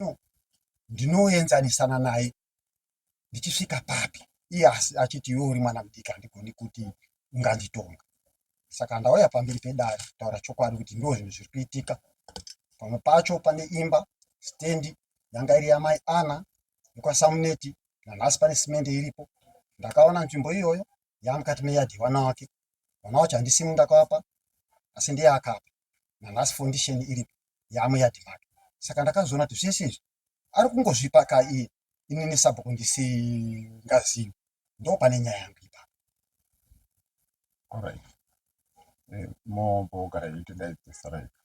no ndinoenzanisana naye ndichisvika papi iye asi achiti iwe uri mwana mudiki handigoni kuti unganditonga saka ndauya pamberi pedare kutaura chokwadi kuti ndo zvinhu zviri kuitika pamwe pacho pane imba stendi yanga iri yamai ana yekwasamuneti nanhasi pane simende iripo ndakaona nzvimbo iyoyo yaamukati meyadhi yevana wake vana wacho handisimu ndakavapa asi ndiye akapa na last foundation iri yamo yadi make saka ndakazoona kuti zvese izvi ari kungozvipa ka iye ini nesabhuku ndisingazivi ndo pane nyaya yangu ipapo alright eh, mombogara iti ndaidzisaraika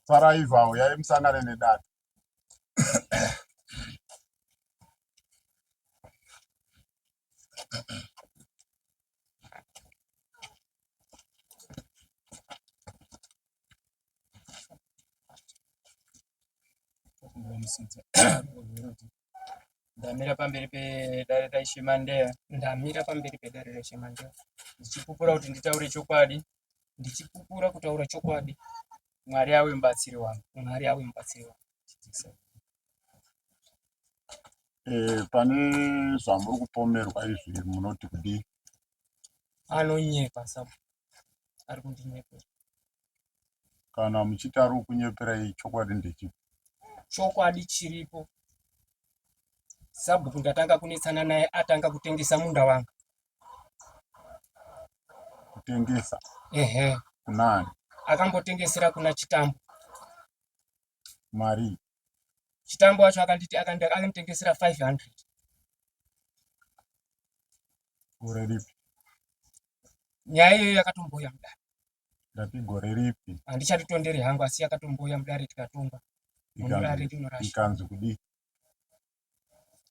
saraivawo yaimusangane nedata ndamira pamberi pedare raishe mandeya ndamira pamberi pedare raishe mandeya ndichipupura kuti nditaure chokwadi ndichipupura kutaura chokwadi Mwari awe mubatsiri wangu. Mwari awe mubatsiri wangu. Eh, pane zvamuri kupomerwa izvi munoti kudii? Anonyepa sabu. Ari kundinyepera. Kana muchiti ari kukunyepera chokwadi ndechipi? Chokwadi chiripo. Sabhuku ndatanga kunetsana naye atanga kutengesa munda wangu. kutengesa ehe kunani akambotengesera kuna chitambo mari chitambo wacho akanditi akanditengesera 500 gore ripi nyaya iyoyo yakatombouya mudare ndati gore ripi handichatitonderi hangu asi yakatombouya mudare tikatonga mudare rinorasha ikanzi kudii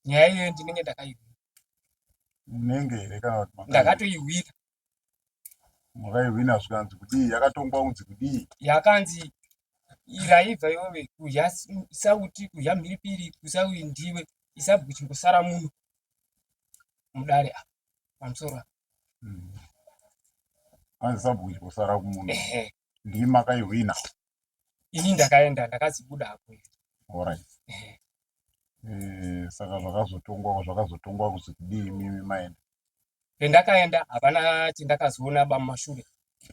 nyaya iyoyo ndinenge ndakaihwira unenge here kana kuti ndakatoihwira makaihwina zvikanzi kudii yakatongwa kunzi kudii yakanzi iraiva iwove kudya sauti kudya mhiripiri kusaui ndiwe isabuchimbosara muno mudare apa pamusoro apa hmm. anzi sabuchimbosara kumuno ndii makaihwina ini ndakaenda ndakazibuda hako alright eh. eh, saka zvakazotongwa zvakazotongwa kuzi kudii mimi maenda pendakaenda hapana chendakazoona ba mumashure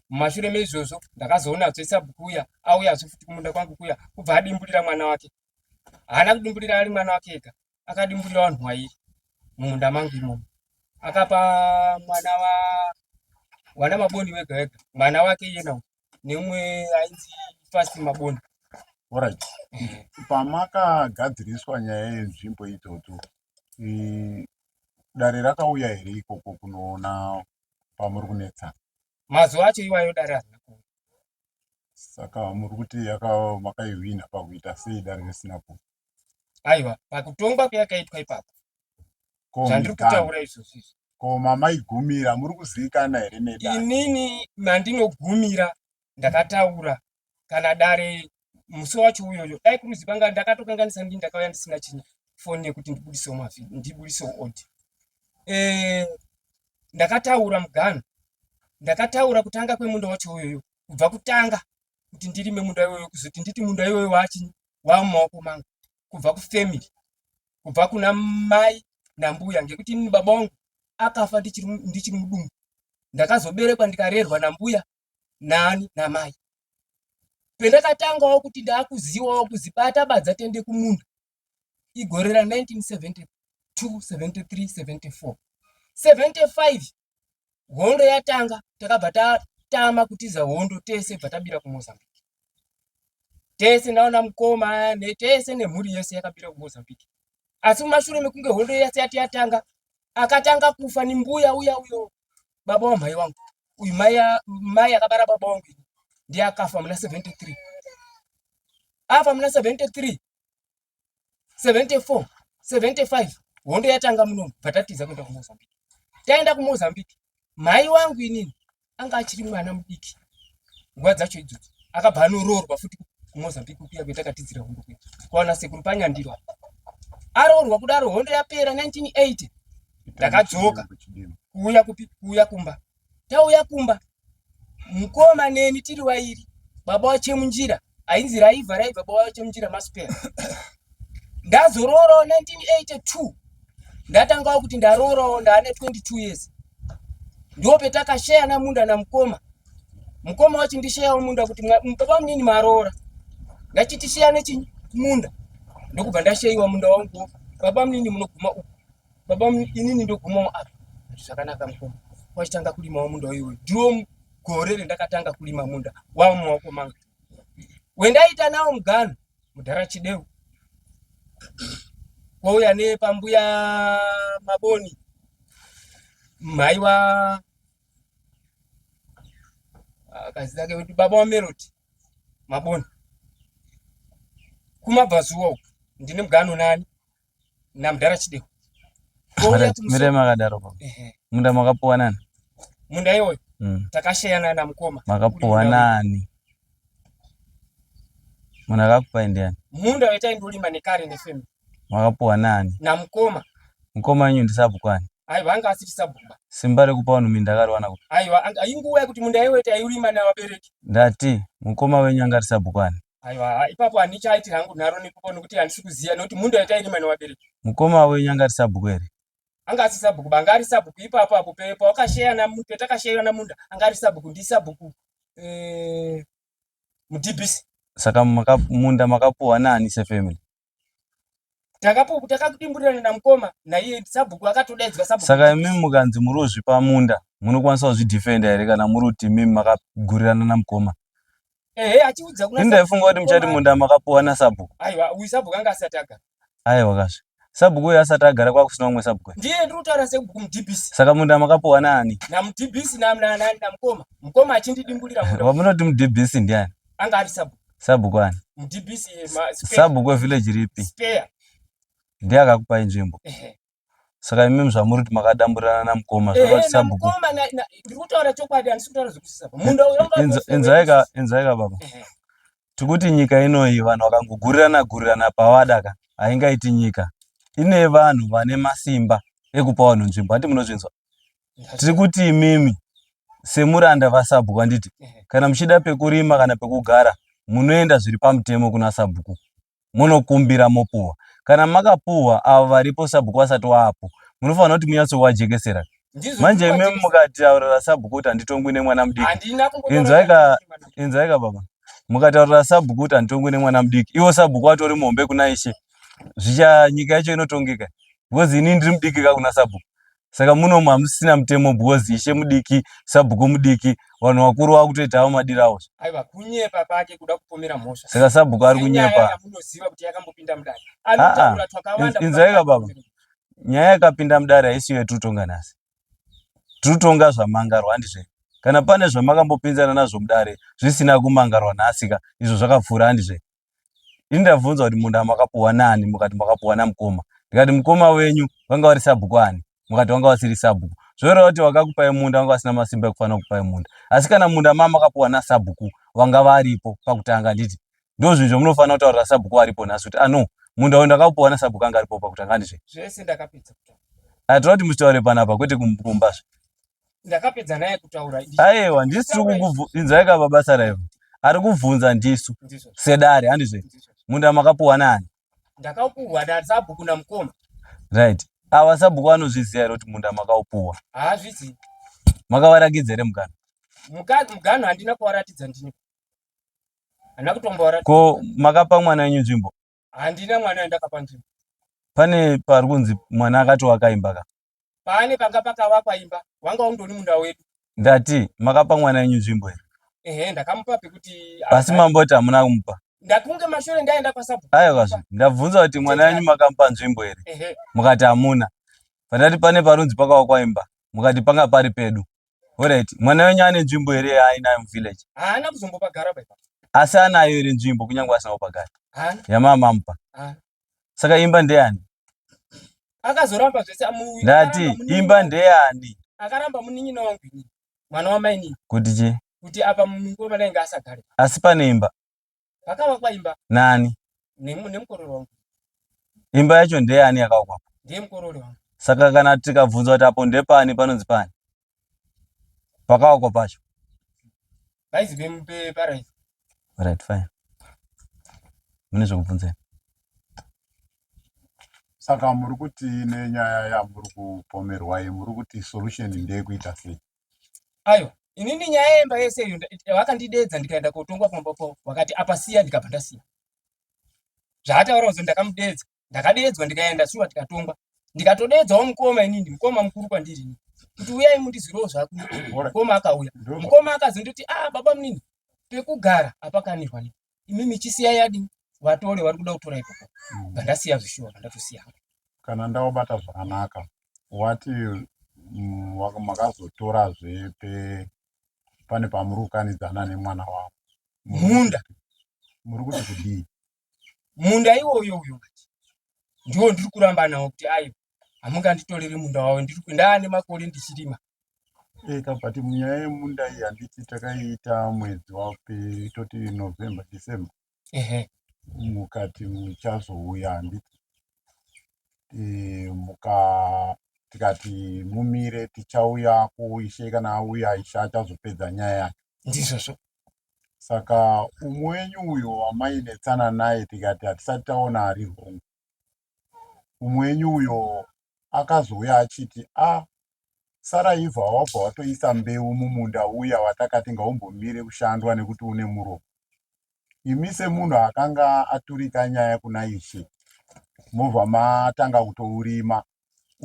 mumashure meizvozvo ndakazoona azoisa bukuya auya azofuti kumunda kwangu kuya kubva adimburira mwana wake haana kudimburira ari mwana wake ega akadimburira vanhu wairi mumunda mangu imomo akapa mwana wa wana maboni wega wega mwana wake iyena neumwe ainzi fasti maboni orit pamakagadziriswa nyaya yenzvimbo idzodzo dare rakauya here ikoko kunoona pamuri kunetsana mazuva acho iwayo dare hazina kuuya saka muri kuti makaihwina pakuita sei dare risina ku aiwa pakutongwa kuyakaitwa ipapo zvandiri kutaura izvozvo izvi ko mamaigumira muri kuziikana here nedare inini mandinogumira ndakataura kana dare musi wacho uyoyo dai kuruzi panga ndakatokanganisa ndii ndakauya ndisina china foni yekuti ndibudisewo mavi ndibudisewo odi e, eh, ndakataura mugano ndakataura kutanga kwemunda wacho uyoyo kubva kutanga kuti ndirime munda iwoyo kuzoti nditi munda iwoyo wachi wamumaoko mangu kubva kufamily kubva kuna mai nambuya ngekuti ini baba wangu akafa ndichiri mudumbu ndakazoberekwa ndikarerwa nambuya nani namai pendakatangawo kuti ndaakuziwawo kuzibata badza tende kumunda igore ra 1972 73 74 75 hondo yatanga takabva tatama kutiza hondo tese bva tabira kumozambique tese ndaona mukoma netese nemhuri yese yakabira kumozambique asi mumashure mekunge hondo yese yati yatanga akatanga kufa ni mbuya uya uyo baba wa mhai wangu uyu mai akabara baba wangu ndiye akafa muna 73 afa muna 73 74 75 hondo yatanga muno bvatatiza kuenda kumozambique taenda kumozambique mhai wangu inini anga achiri mwana mudiki nguva dzacho idzodzo akabva anoroorwa futi kumozambique kuya kwetakatizira hondo kuya kwaona sekuru panyandiro aroorwa kudaro hondo yapera 1980 ndakadzoka kuuya kupi kuuya kumba tauya kumba mukoma neni tiri wairi baba wachemunjira ainzi raiva raiva baba wachemunjira masipera ndazoroorawo 1982 ndatangawo kuti ndaroorawo ndaane 22 years ndo petakasheyana munda namukoma mukoma wachindisheyawo munda kuti baba munini maroora ndachitisheyane chimunda ndokubva ndasheyiwa munda wangu baba munini munoguma uku Baba inini ndogumawo apa. Zvakanaka mukoma. Wachitanga kulimawo munda uyu. Ndiwo gore rendakatanga kulima munda wava mumaoko mangu. Wendaita nawo mugano mudhara Chideu. Kwauya nepambuya Maboni. Mhaiwa akazita ah, ke kuti baba wameroti mabona kumabvazuwa uku ndine mugano nani namudhara chidewo mire makadaro pa munda makapuwa nani munda iwoyo mm. takasheyana namukoma makapuwa nani munhu akakupai ndiani munda wetaindolima nekare nefamily makapuwa nani namukoma mukoma wenyu ndisabhuku ani aiwa anga asiri sabhuku ba simba rekupa vanhu minda akariwana kupi aiwa inguva yekuti munda iwoyo taiulima nevabereki ndati mukoma wenyu anga ari sabhuku ani aiwa ipapo handichaiti hangu nharo nekuko nokuti handisi kuziva nokuti mundo yatairima newabereki mukoma wenyu anga ari sabhuku here anga asi sabhuku ba anga ari sabhuku ipapo apo pawakasheyana petakasheyana munda anga ari sabhuku ndi sabhuku eh, mudhibhisi saka maka, munda makapuwa naani sefamily takapupu takakudimburirana namukoma naiye sabhuku akatodaidzwa sabhuku saka imi mukanzi muri kuzvipa munda munokwanisa kuzvidefenda here kana muri kuti mimi makagurirana namukoma ehe achiudza kuna ini ndaifunga kuti muchati munda makapuwa nasabhuku aiwa uyu sabhuku anga asati agara aiwa kasve sabhuku uyu asati agara kwakusina umwe sabhuku ndiye ndiri kutaura sebhuku mudhibhisi saka munda makapuwa naani namudhibhisi namukoma mukoma achindidimburira munda wamunoti mudhibhisi ndiani anga ari sabhuku Sabhuku ani? DPC ma spare. Sabhuku wevillage ripi? Spare. Ndiye akakupai nzvimbo. Ehe. Saka imi zvamuri kuti makadamburirana namukoma Ehe, zvakati sabhuku. namukoma na- na- ndiri kutaura chokwadi handisi kutaura zvekusisa apa. Munda uyo wanga Inza- wose Inzaika wedu. inzaika baba. Ehe. Tikuti nyika inoyi vanhu vakangogurirana gurirana pavada ka haingaiti nyika. Ine vanhu vane masimba ekupa vanhu nzvimbo. Hati munozvinzwa? tiri kuti imimi semuranda vasabhuku handiti kana muchida pekurima kana pekugara munoenda zviri pamutemo kuna sabhuku munokumbira mopuhwa kana makapuhwa avo varipo sabhuku vasati waapo munofanira kuti munyatsovajekesera manje imimi mukataurira sabhuku kuti handitongwi nemwana mudiki inzwaika baba mukataurira sabhuku kuti handitongwi nemwana mudiki ivo sabhuku vatori muhombe kuna ishe zvicha nyika yacho inotongeka because ini ndiri mudiki ka kuna sabhuku saka munomu hamusisina mutemo because ishe mudiki sabhuku mudiki vanhu vakuru vakutoita avo madira avo aiwa kunyepa pake kuda kupomera mhosva saka sabhuku ari kunyepa munoziva kuti yakambopinda mudare anotaura twakawanda inzaika baba nyaya yakapinda mudare haisiyo yatinotonga nhasi tinotonga zvamangarwa handizve kana pane zvamakambopinzana nazvo mudare zvisina kumangarwa nhasika izvo zvakapfuura handizve ini ndabvunza kuti munda makapuwa nani mukati makapuwa namukoma ndikati mukoma wenyu vanga vari sabhuku ani mukati vanga vasiri sabhuku zvoreva kuti vakakupai munda vanga vasina masimba ekufanira kupai munda asi kana munda ma makapuwa nasabhuku vanga varipo pakutanga handiti ndo zvinhu zvamunofanira kutaurira sabhuku varipo nhasi kuti ano ah, munda uyu ndakapuwa nasabhuku anga aripo pakutanga handizve zvese ndakapedza kutaura atira kuti musitaure panapa kwete kumba zve ndakapedza naye kutaura aiwa ndisu tiri kukuinzwai ka babasa raivo ari kubvunza ndisu sedare handizve munda makapuwa nani ndakaupuhwa nasabhuku namukoma right ava sabhuku anozviziva here kuti munda makaupuwa haazvizivi makavarakidza here mugano mugano handina kuvaratidza ndini handina kutombovaratidza ko makapa mwana wenyu nzvimbo handina mwana wandakapa nzvimbo pane pari kunzi mwana akati wakaimba ka paane panga pakavakwa imba wanga undoni munda wedu ndati makapa mwana wenyu nzvimbo here ehe ndakamupa pekuti asi mamboti hamuna kumupa ndakunge mashure ndaenda kwasabu aiwa zve ndabvunza kuti mwana wenyu makamupa nzvimbo here mukati hamuna pandati pane parunzi pakavakwa imba mukati panga pari pedu orit mwana wenyu ane nzvimbo here yaainayo muvillage haana kuzombopagara asi anayo here nzvimbo kunyange asina kupagara yamamamupa saka imba ndeyani akazoramba zvese amuuya ndati imba ndeyani akaramba munin'ina wangu ini mwana wamainini kuti chii kuti apa muningi wemwana inge asagare asi pane imba pakavakwa imba nani Nemu- nemukororo wangu imba yacho ndeyani yakavakwapo ndiye mukororo wangu saka kana tikabvunzwa kuti apo ndepani panonzi pani pakaoko pacho guys vemupe parais right fine mune zvekubvunzei saka muri kuti nenyaya yamuri kupomerwa iyi muri kuti solution ndeyekuita sei ayo inini nyaya yemba yese iyo vakandidedza ndikaenda kotongwa pamba po vakati apa siya ndikabva ndasiya zvaataura kuzi ndakamudedza ndakadeedzwa ndikaenda shuwa tikatongwa ndikatodeedzawo mukoma inini mukoma mukuru kwandiri kuti uyai mundizirewo zvaku mukoma akauya mukoma akazondoti a ah, baba munini pekugara apakanirwa ne imi michisiya yadi vatore vari kuda kutora ikoko mm. ndandasiya zvishuwa ndatosiya kana ndaobata zvakanaka wati mm, makazotorazve pe pane pamuri kukanidzana nemwana wavo munda muri kuti kudii munda iwoyo uyo ngati ndiwo ndiri kuramba nawo kuti ayo hamunganditoreri munda wawo ndiri ndaa nemakore ndichirima eh, kabati munyaya yemunda iyi handiti takaiita mwedzi wapi toti november december ehe mukati muchazouya handiti eh, muka tikati mumire tichauya kuishe kana auya ishe achazopedza nyaya yacho ndizvozvo saka umwe wenyu uyo wamainetsana naye tikati hatisati taona ari hongu umwe wenyu uyo akazouya achiti a ah, sara ivha wabva watoisa mbeu mumunda uya watakati ngaumbomire kushandwa nekuti une muromo imi semunhu akanga aturika nyaya kuna ishe mobva matanga kutourima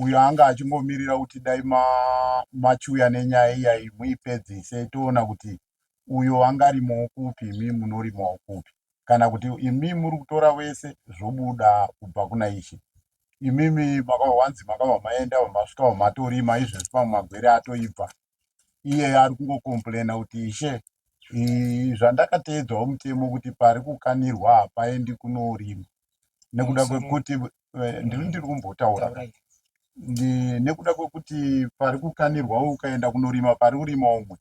uyo anga achingomirira kuti dai machiuya nenyaya iyayi muipedzise toona kuti uyo angarimowo kupi imi munorimowo kupi kana kuti imi muri kutora vese zvobuda kubva kuna ishe imimi makava wanzi makava maenda vamasvika vamatorima izvezvi pamwe magwere atoibva iye ari kungocomplaina kuti ishe zvandakateedzwawo mutemo kuti pari kukanirwa hapaendi kunorima nekuda kwekuti eh, ndiri ndiri kumbotaura nekuda kwekuti pari kukanirwa ukaenda kunorima pari kurima umwe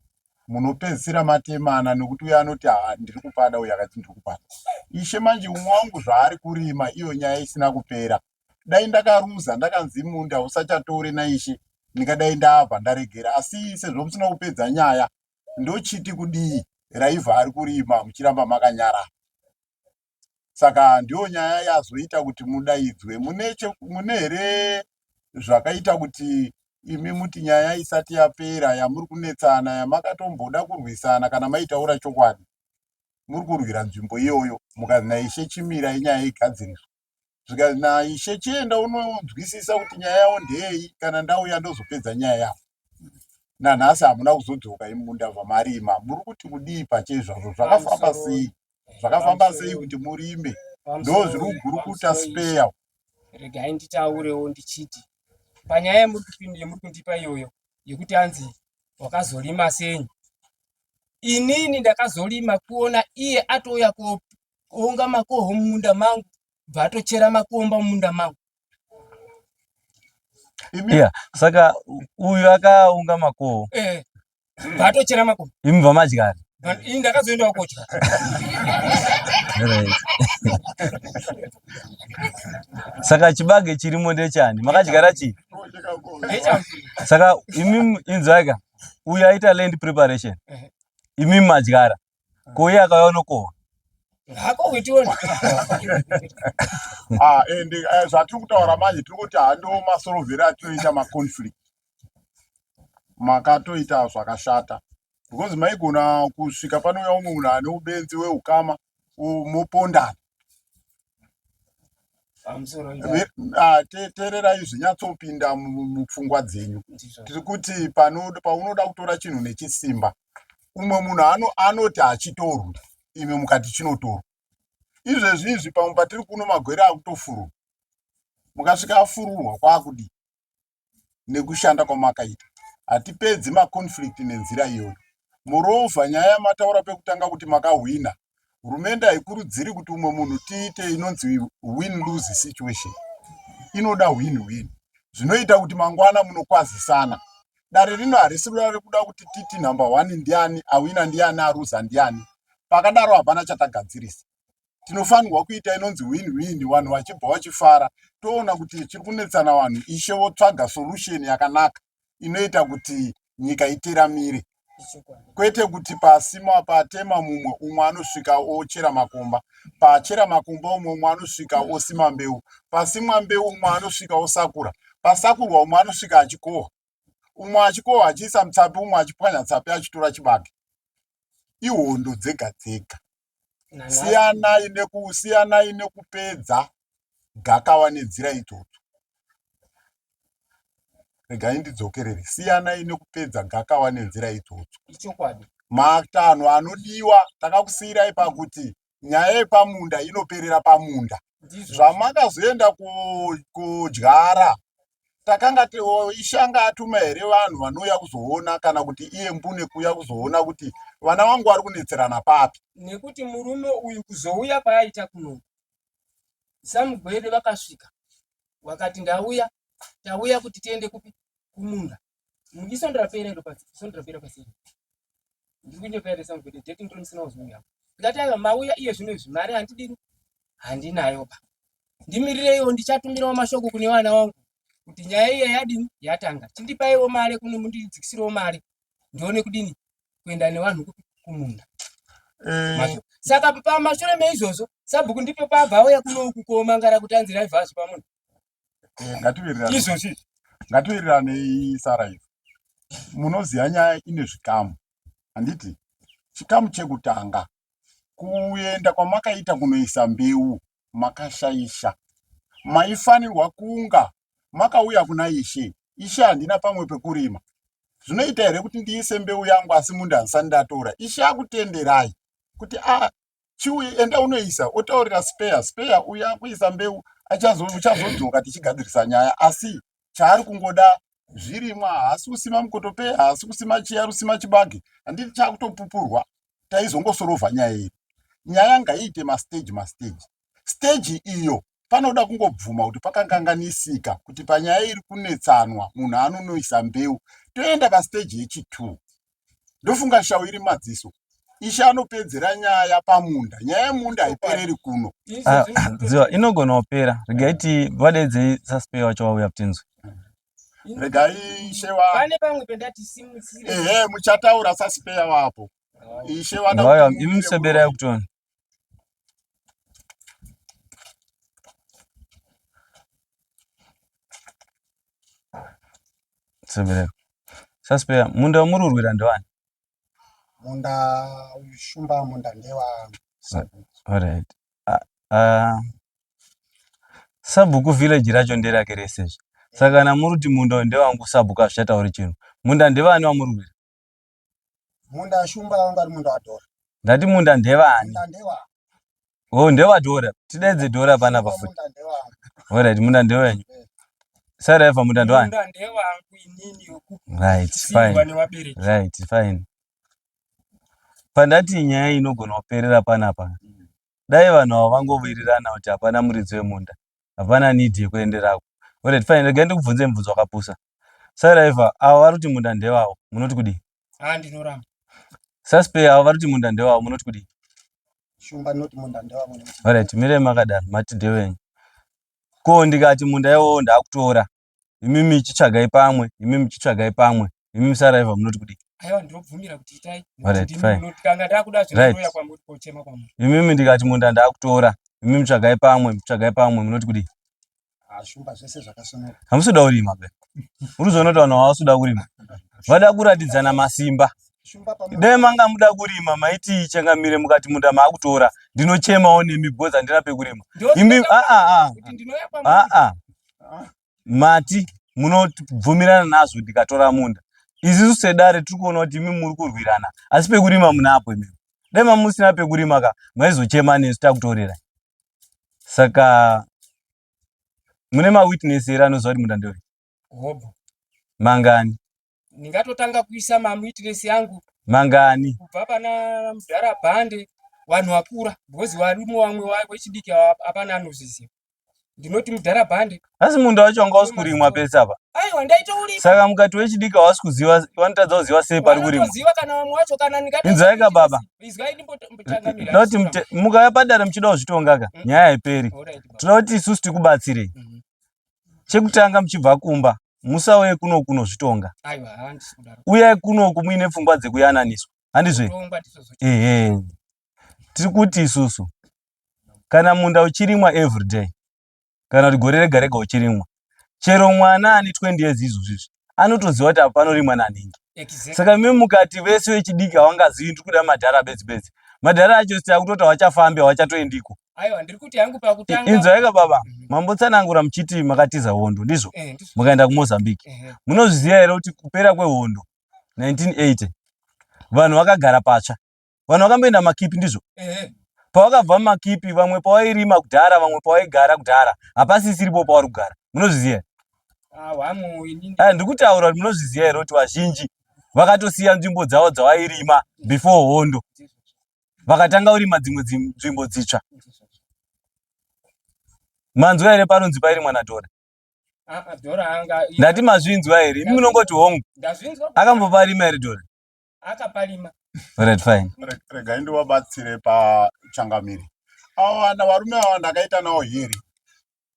munopedzisira matemana nokuti uyo anoti haa ndiri kupada uyo akati ndiri kupada ishe manje umwe wangu zvaari kurima iyo nyaya isina kupera dai ndakaruza ndakanzi munda usachatore naishe ndingadai ndabva ndaregera asi sezvo musina kupedza nyaya ndochiti kudii raivha ari kurima muchiramba makanyara saka ndiyo nyaya yazoita kuti mudaidzwe mune here zvakaita kuti imi muti nyaya isati yapera yamuri kunetsana yamakatomboda kurwisana kana maitaura chokwadi muri kurwira nzvimbo iyoyo mukanzi naishe chimira inyaya igadziriswa zvikanzi naishe chienda unonzwisisa kuti nyaya yavo ndeyei kana ndauya ndozopedza nyaya yavo nanhasi hamuna kuzodzoka imunda zvamarima muri kuti kudii pache izvazvo zvakafamba sei zvakafamba sei kuti murime ndo zviri kugurukuta speya regai nditaurewo ndichiti panyaya yemuri kupinda yemuri kundipa iyoyo yekuti anzi wakazorima senyi inini ndakazorima kuona iye atouya kuunga makoho mumunda mangu bva atochera makomba mumunda mangu yeah. saka uyu akaunga makoho eh, bva atochera makomba imi bva madyari ini ndakazoendawo kodya saka chibage chirimo ndechani makadyara chii saka imi inzwaika uyu aita land preparation eh. imi madyara ko iye akauya unokohwa ah, and eh, zvatiri kutaura manje tiri kuti hando masorovheri atinoita maconflict makatoita zvakashata because maigona kusvika panouya umwe munhu ane ubenzi weukama mopondana Ah, teererai zvinyatsopinda mupfungwa dzenyu tiri kuti paunoda kutora chinhu nechisimba umwe munhu anoti hachitorwi imwe mukati chinotorwa izvezvi izvi pamwe patiri kuno magwere akutofururwa mukasvika afururwa kwakudii nekushanda kwamakaita hatipedzi maconflict nenzira iyoyo moreover nyaya yamataura pekutanga kuti makahwina hurumende haikurudziri kuti umwe munhu tiite inonzi win lose situation inoda win win zvinoita kuti mangwana munokwazisana dare rino harisi ruda rekuda kuti titi number one ndiani awina ndiani aruza ndiani pakadaro hapana chatagadzirisa tinofanirwa kuita inonzi win win vanhu vachibva vachifara toona kuti chiri kunetsana vanhu ishe votsvaga solution yakanaka inoita kuti nyika iteramire kwete kuti pasima patema mumwe umwe anosvika ochera makomba pachera makomba umwe umwe anosvika osima mbeu pasimwa mbeu umwe anosvika osakura pasakurwa umwe anosvika achikohwa umwe achikohwa achiisa mutsapi umwe achipwanya tsapi achitora chibage ihondo dzega dzega siyanai nekusiyanai nekupedza gakawa nenzira idzodzo regai ndidzokerere siyanai nekupedza gakawa nenzira idzodzo ichokwadi matanho anodiwa takakusiyirai pakuti nyaya yepamunda inoperera pamunda zvamakazoenda kudyara takanga ishanga atuma here vanhu vanouya kuzoona kana kuti iye mbune kuuya kuzoona kuti vana vangu vari kunetserana papi nekuti murume uyu kuzouya kwaaita kuno samugwede vakasvika wakati ndauya tauya kuti tiende kupi kumunda ndisondirapere ndo pasi ndisondirapere pasi ndiri kunyepera sound kuti date ndiri musina wazouya ndati aiwa mauya iye zvino izvi mari handidini handinayo ba ndimirireiwo ndichatumirawo mashoko kune vana wangu kuti nyaya iya yadini yatanga chindipaiwo mari kune mundidzikisirewo mari ndione kudini kuenda nevanhu kupi kumunda eh. saka pamashure meizvozvo sabhuku ndipo pabva auya kuno kukoma ngara kuti anzi raivhazvo pamunhu eh, ngatiwirirane izvozvi ngatiwiriranei sara izvo munoziva nyaya ine zvikamu handiti chikamu chekutanga kuenda kwamakaita kunoisa mbeu makashaisha maifanirwa kunga makauya kuna ishe ishe handina pamwe pekurima zvinoita here kuti ndiise mbeu yangu asi munda handisani ndatora ishe akutenderai kuti a ah, chiuye enda unoisa otaurira speya speya uyo akuisa mbeu achazodzoka tichigadzirisa nyaya asi chaari kungoda zvirimwa haasi kusima mukotopeya haasi kusima chiya rusima chibage handiti chakutopupurwa taizongosorovha nyaya iri nyaya ngaiite masteji masteji steji iyo panoda kungobvuma kuti pakanganganisika kuti panyaya iri kunetsanwa munhu anonoisa mbeu toenda pasteji yechitwo ndofunga shau iri madziso ishe anopedzera nyaya pamunda nyaya yemunda haipereri kuno ah, ah, dziva inogona kupera regai ti vadedzei sasipei wacho vauya kutinzwi regai ishe vane pamwe pendati simutsire ehe muchataura sasipeya wapo ishe vana imuseberai kutoni Sebereko. Saspeya, munda wamuri urwira ndewani? Munda uyu shumba munda ndewa Alright. Ah, ah, sabhuku village racho nderake rese izvi. Saka kana muri kuti munda uyu ndewangu sabhuku hazvichatauri chinhu. Munda ndewani wamuri urwira? Munda shumba wanga ari munda wadhora. Ndati munda ndevani? Munda ndewa. Oh, ndewa dhora. Tidaidze dhora pana pafuti. All right, munda ndewenyu. Eh. Sara eva munda ndewani? Munda ndewangu inini yokuku. Right, fine. Right, fine. Pandati nyaya inogona kuperera panapa. Dai vanhu avo vangowirirana kuti hapana muridzi wemunda. hapana need yekuenderako oret fine regai ndikubvunze mubvunzo wakapusa saraiva avo vari kuti munda ndevavo munoti kudii ah, ndinoramba saspay avo vari kuti munda ndevavo munoti kudii shumba not munda ndevavo oret mire makadaro mati ndewenyu ko ndikati munda iwowo ndakutora imimi chitsvagai pamwe imimi chitsvagai pamwe imimi saraiva munoti kudii aiwa ndinobvumira kuti itai kanga ndakuda zvinotoya kwamuri kochema kwamuri imimi ndikati munda ndakutora imimi tsvagai pamwe tsvagai pamwe munoti kudii zvumba zvese zvakasonoka hamusi kuda kurima be uri zvonoti vanhu havasi kuda kurima vada kuratidzana masimba dai manga muda kurima maiti changamire mukati munda maakutora ndinochemawo nemi because handina pekurima imi aa ah, ah, ah, mati munobvumirana nazvo ndikatora munda izisu sedare tiri kuona kuti imi muri kurwirana asi pekurima munapo imimi dai mamusina pekurima ka maizochema nesu takutorera saka mune mawitness here anoziva kuti munda ndori mangani ndingatotanga kuisa mamuitiresi yangu mangani kubva pana mudhara bhande vanhu vakura because varume vamwe vechidiki hapana anozviziva ndinoti mudhara bhande asi munda wacho wanga usi kurimwa pese apa aiwa ndaitourima saka mukati wechidiki hawasi kuziva vanotadza kuziva sei pari kurimwa vanotoziva kana vamwe wacho kana ndikati inzwai ka baba izwai ndimbotangamira ndoti mukaya padare muchida kuzvitonga ka mm. nyaya haiperi tinoda kuti isusu tikubatsirei mm. chekutanga muchibva kumba musauye kuno kunozvitonga uyai kunoku muine pfungwa dzekuyananiswa handizve ehe tiri kuti isusu kana munda uchirimwa everyday kana kuti gore rega rega uchirimwa chero mwana ane 20 years izvozvizvi anotoziva kuti apa panorimwa nanhingi saka imi mukati vese vechidiki havangazivi ndiri kuda madhara bedzi bedzi madhara acho sita kutoti hawachafambi hawachatoendiko inzwaika baba mhm. mambotsanangura muchiti makatiza hondo ndizvo eh, mukaenda kumozambique munozviziva here kuti kupera kwehondo 1980 vanhu vakagara patsva vanhu vakamboenda makipi ndizvo pavakabva makipi vamwe pavairima kudhara vamwe pavaigara kudhara hapasisiripo pavari kugara munozviziva ah, ndiri kutaura kuti munozviziva here kuti vazhinji vakatosiya nzvimbo dzavo dzavairima before hondo vakatanga kurima dzimwe nzvimbo dzitsva manzwa here paronzi pairi mwana dora ah, ah, ndati mazvinzwa here imi munongoti hongu akamboparima here dora akapalima right fine rega indi wabatsire pachangamire avo vana varume ava ndakaita nawo here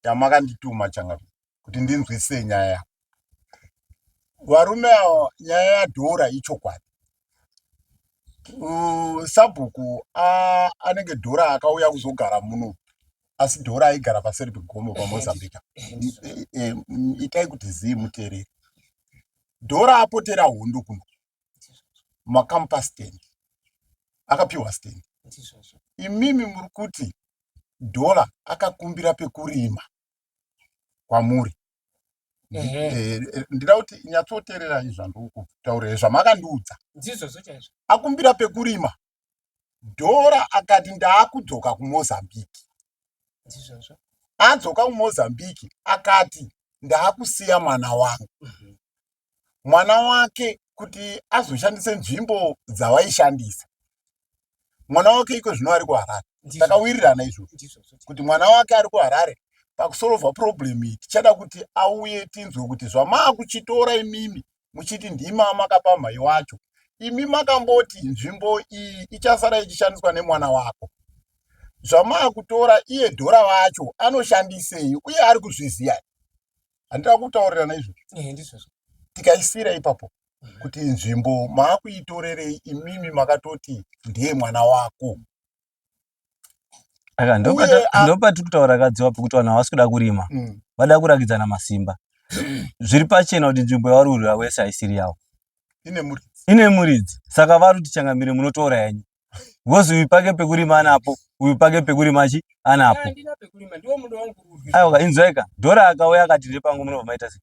yamakandituma changamire kuti ndinzwisise nyaya yavo varume avo nyaya yadhora ichokwadi sabhuku anenge dhora akauya kuzogara muno asi dhora aigara paseri pegomo pamozambique e, e, itai kuti zii mutereri dhora apotera hondo kuno makamupa stand akapiwa stand imimi muri kuti dhora akakumbira pekurima kwamuri Eh, eh, ndida kuti nyatsoteererai zvandiri kutaura zvamakandiudza akumbira pekurima Dora akati ndaakudzoka kuMozambique. Ndizvozvo. Adzoka kuMozambique akati ndaakusiya mwana wangu. Mm -hmm. Mwana wake kuti azoshandise nzvimbo dzavaishandisa. Mwana wake iko zvino ari kuHarare. Takawirirana izvozvo kuti mwana wake ari kuHarare pakusolva problem iyi tichada kuti auye tinzwe kuti zvamaakuchitora imimi muchiti ndimi amakapa mhai wacho imi makamboti nzvimbo iyi ichasara ichishandiswa nemwana wako zvamaakutora iye dhora vacho anoshandisei uye ari kuzviziva handira kutaurirana izvozvo tikaisira ipapo mhm. kuti nzvimbo maakuitorerei imimi makatoti ndiye mwana wako aka ndopati kutaura kadziwa pekuti vanhu havasi kuda kurima mm. vada kurakidzana masimba zviri pachena kuti nzvimbo yavari kurwira wese haisiri yavo ine muridzi saka vari kuti changamire munotora yenyu bcoz uyu pake pekurima anapo uyu pake pekurima chi anapo aiwa inzwaika dhora akauya akati repangu munobva maita sei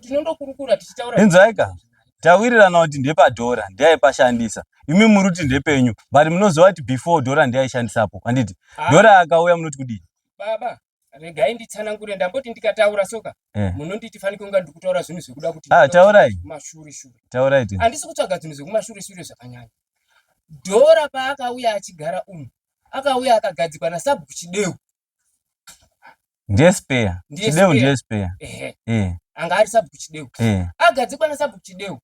tinondokurukura tichitaura inzwaika tawirirana kuti ndepadhora ndiyaipashandisa imi muri kuti ndepenyu but munoziva kuti before dhora ndiyaishandisapo handiti ah. dhora akauya munoti kudii baba regai nditsanangure ndamboti ndikataura soka eh. munonditi fanike kunga ndikutaura zvinhu zvekuda kuti ah, taurai mashure shure taurai handisi kutsvaga zvinhu zvekumashure shure zvakanyanya dhora paakauya achigara umu akauya akagadzikwa nasabhuku chideu ndiye spare chideu ndiye spare eh anga ari sabhuku chideu eh agadzikwa na sabhuku chideu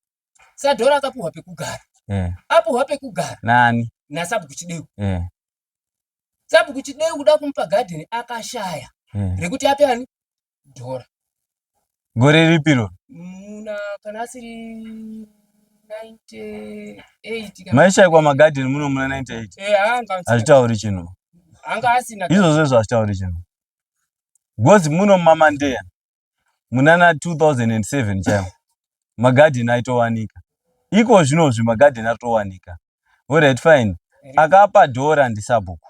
sadhora akapuhwa pekugara eh apuhwa pekugara nani na sabhuku chideu eh sabhuku chideu kuda kumupa garden akashaya eh rekuti ape ani dhora gore ripi ro muna kana asiri 98 maishaikwa magadheni muno muna 98 hazvitauri chinhu izvozvo izvo hazvitauri chinhu because muno mumamandeya munana 2007 chaiwo magadheni aitowanika iko zvinozvi magadheni atowanika orit fine akapa dhora ndisabhuku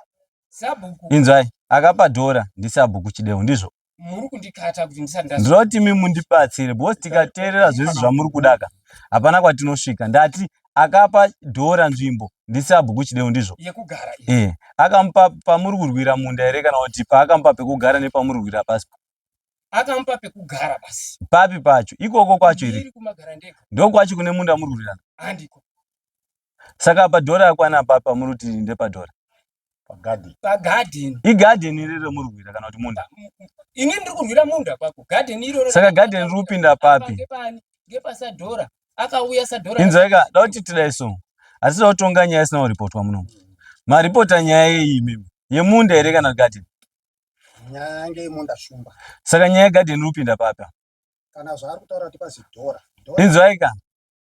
inzwai akapa dhora ndisabhuku chidevu ndizvo muri kundikata kuti ndisandindiroti imi mundibatsire because tikateerera zvese zvamuri kudaka hapana kwatinosvika ndati akapa dhora nzvimbo ndisabhuku chidewu ndizvo yekugara e akamupa pamuri kurwira munda here kana kuti paakamupa pekugara nepamuri kurwira pasi akamupa pekugara pasi papi pacho ikoko kwacho here ndokwacho kune munda muri kurwirana handiko Saka apa door rakwana apapa muri kuti ndepa door. Pagarden. Pagarden. Igarden iri romuri kurwira kana kuti munda? Ini ndiri kurwira munda kwako. Garden iroro. Saka garden riri kupinda papi? Ngepani? Ngepasadhora. Akauya sadhora. Inzwaika, da kuti tidai so. Asi da kutonga nyaya isina kuripotwa muno. Maripota nyaya yeyi imimi. Yemunda here kana garden? Nyaya ngeimunda shumba. Saka nyaya garden iri kupinda papi? kana zvaari kutaura kuti pazidhora inzwaika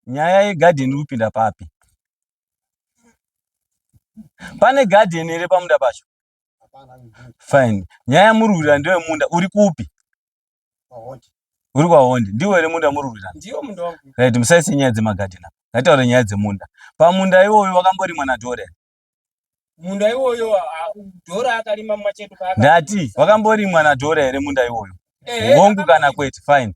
nyaya yegadheni iri kupinda papi pane gadheni here pamunda pacho fine nyaya murwira ndewe munda uri kupi uri kwahondi ndiwo here munda murwira right musaise nyaya dzemagadheni apa ngataure nyaya dzemunda pamunda iwoyo wakamborimwa nadhore munda iwoyo dhora akarima machedu ndati wakamborimwa nadhora here munda iwoyo hongu kana kwete fine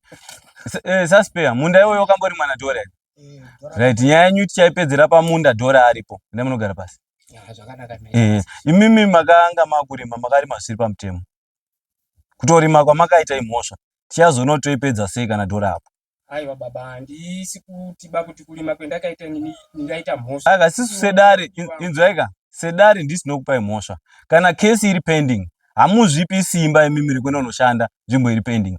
eh, saspeya munda iwoyo wakamborimwa nadhora here eh, right nyaya yenyu tichaipedzera pamunda dhora aripo enda munogara pasi eh, imimi makanga makurima makarima zvisiri pamutemo kutorima kwamakaita imhosva tichazonotoipedza sei kana dhora apo Aiwa baba handisi kutiba kuti kurima kwendakaita nini ndingaita mhosva. Aka sisu sedare inzwaika sedare ndisi nokupai mhosva kana kesi iri pending hamuzvipi simba imi miri kuenda unoshanda nzvimbo iri pending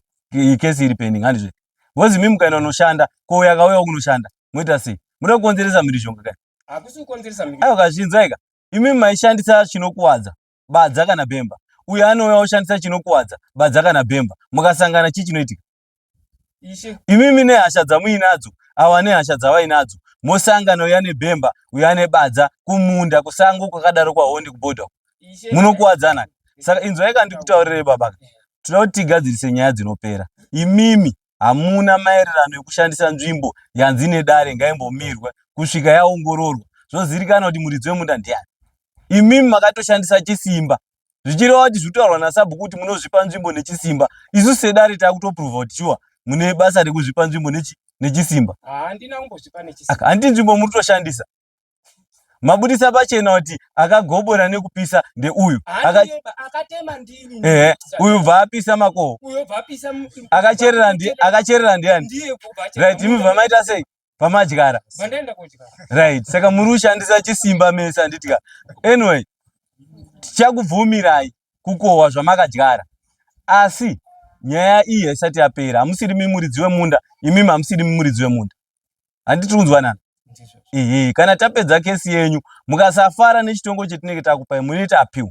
kesi iri pending handizve bhozi imi mukaenda unoshanda ko uyo akauyawo kunoshanda moita sei muda kukonzeresa mhirizhonga kai hakusi kukonzeresa mhirizhonga aiwa kazvinzwaika imi maishandisa chinokuwadza badza kana bhemba uyo anouya oshandisa chinokuwadza badza kana bhemba mukasangana chii chinoitika imimi nehasha dzamuinadzo awa nehasha dzavainadzo mosangana uya nebhemba uya nebadza kumunda kusango kwakadaro kwahondi kubhodha munokuwadzana saka inzwai kandikutaurire baba tinoda kuti tigadzirise nyaya dzinopera imimi hamuna maererano ekushandisa nzvimbo yanzi nedare ngaimbomirwe kusvika yaongororwa zvozivikanwa kuti muridzi wemunda ndiani imimi makatoshandisa chisimba zvichireva kuti zvitaurwa nasabhuku kuti munozvipa nzvimbo nechisimba isu sedare takutoprova kuti shuwa mune basa rekuzvipa nzvimbo nechi nechisimba handina kumbozvipa nechisimba handi nzvimbo muri kutoshandisa mabudisa pachena kuti akagobora nekupisa ndeuyu akatema ndini ehe uyu bva apisa makoho uyo bva apisa akacherera ndi akacherera ndiani ndiye right imi bva maita sei pamadyara mandaenda kodyara right saka muri kushandisa chisimba mese handitya anyway tichakubvumirai kukohwa zvamakadyara asi nyaya iyi haisati yapera hamusiri mimuridzi wemunda imimi hamusiri mimuridzi wemunda handiti kunzwanana ehe kana tapedza kesi yenyu mukasafara nechitongo chetinenge takupai munoita apiwa